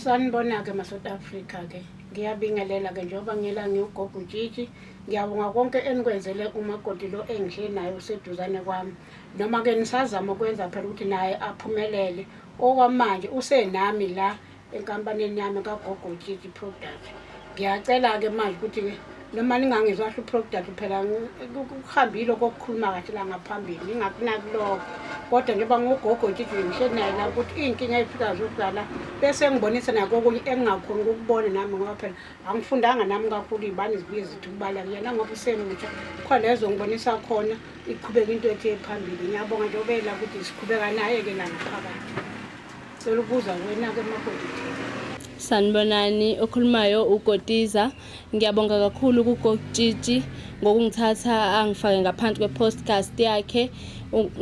Sanibona-ke maSouth Africa-ke ngiyabingelela-ke njengoba ngiyela ngiwugogo utshitshi ngiyabonga konke enikwenzele umakoti lo engihleli naye useduzane kwami noma-ke nisazama ukwenza phela ukuthi naye aphumelele okwamanje usenami la enkampanini yami kagogo utshitshi product Ngiyacela-ke manje ukuthi-ke noma ningangizwa kahle uProcdad phela kuhambile okokukhuluma kahle la ngaphambili ngingakunaki lokho kodwa njengoba ngugogo nje ngihleli naye la ukuthi iy'nkinga ey'fika zokudlala bese ngibonisa nako okunye engingakhoni ukukubona nami ngoba phela angifundanga nami kakhulu iy'bani zibuye zithi ukubala kuyena ngoba usemutsha khona lezo ngibonisa khona iqhubeka into ethi ephambili ngiyabonga njengoba ela ukuthi siqhubeka naye-ke la ngaphakathi Cela ukubuza wena ke makoti. Sanibonani okhulumayo uKotiza ngiyabonga kakhulu kuKokutshitshi ngokungithatha angifake ngaphansi kwe-podcast yakhe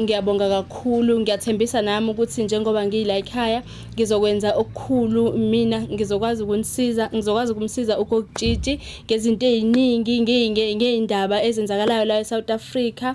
ngiyabonga kakhulu ngiyathembisa nami ukuthi njengoba ngiyila ekhaya ngizokwenza okukhulu mina ngizokwazi ukunisiza ngizokwazi ukumsiza uKokutshitshi ngezinto eziningi ngeyindaba ezenzakalayo la eSouth Africa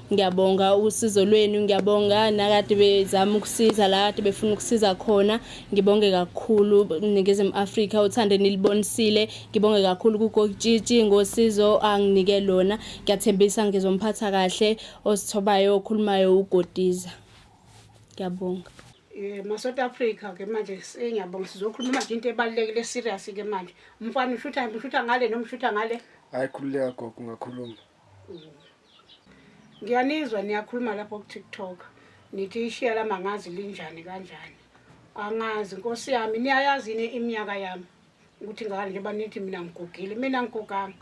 Ngiyabonga usizo lwenu, ngiyabonga nakade bezama ukusiza la kade befuna ukusiza khona. Ngibonge kakhulu Ningizimu Afrika uthande nilibonisile. Ngibonge kakhulu kuGokitshitshi ngosizo anginike lona. Ngiyathembisa ngizomphatha kahle osithobayo okhulumayo uGodiza. Ngiyabonga. Eh maSouth Africa ke manje sengiyabonga sizokhuluma manje into ebalekile serious ke manje. Umfana ushutha ushutha ngale noma ushutha ngale? Hayi khululeka gogo ungakhuluma. ngiyanizwa niyakhuluma lapho kuTikTok nithi ishiya lami angazi linjani kanjani angazi nkosi yami niyayazi yini iminyaka yami ukuthi ngani njengoba nithi mina ngigugile mina ngiguganga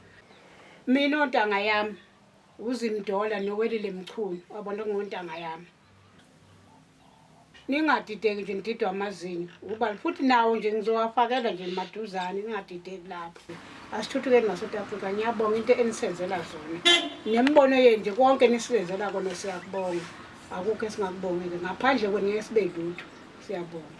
mina ontanga yami uzimdola nowelile mchunu wabona kungontanga yami ningadideki nje nididwa amazinyo ukubala futhi nawo nje ngizowafakela nje maduzane ningadideki lapho asithuthukeni ngasouth africa ngiyabonga into enisenzela zona nemibono yenu nje konke nisibenzela kona siyakubonga akukho esingakubongile ngaphandle kwenu ngeke sibe lutho siyabonga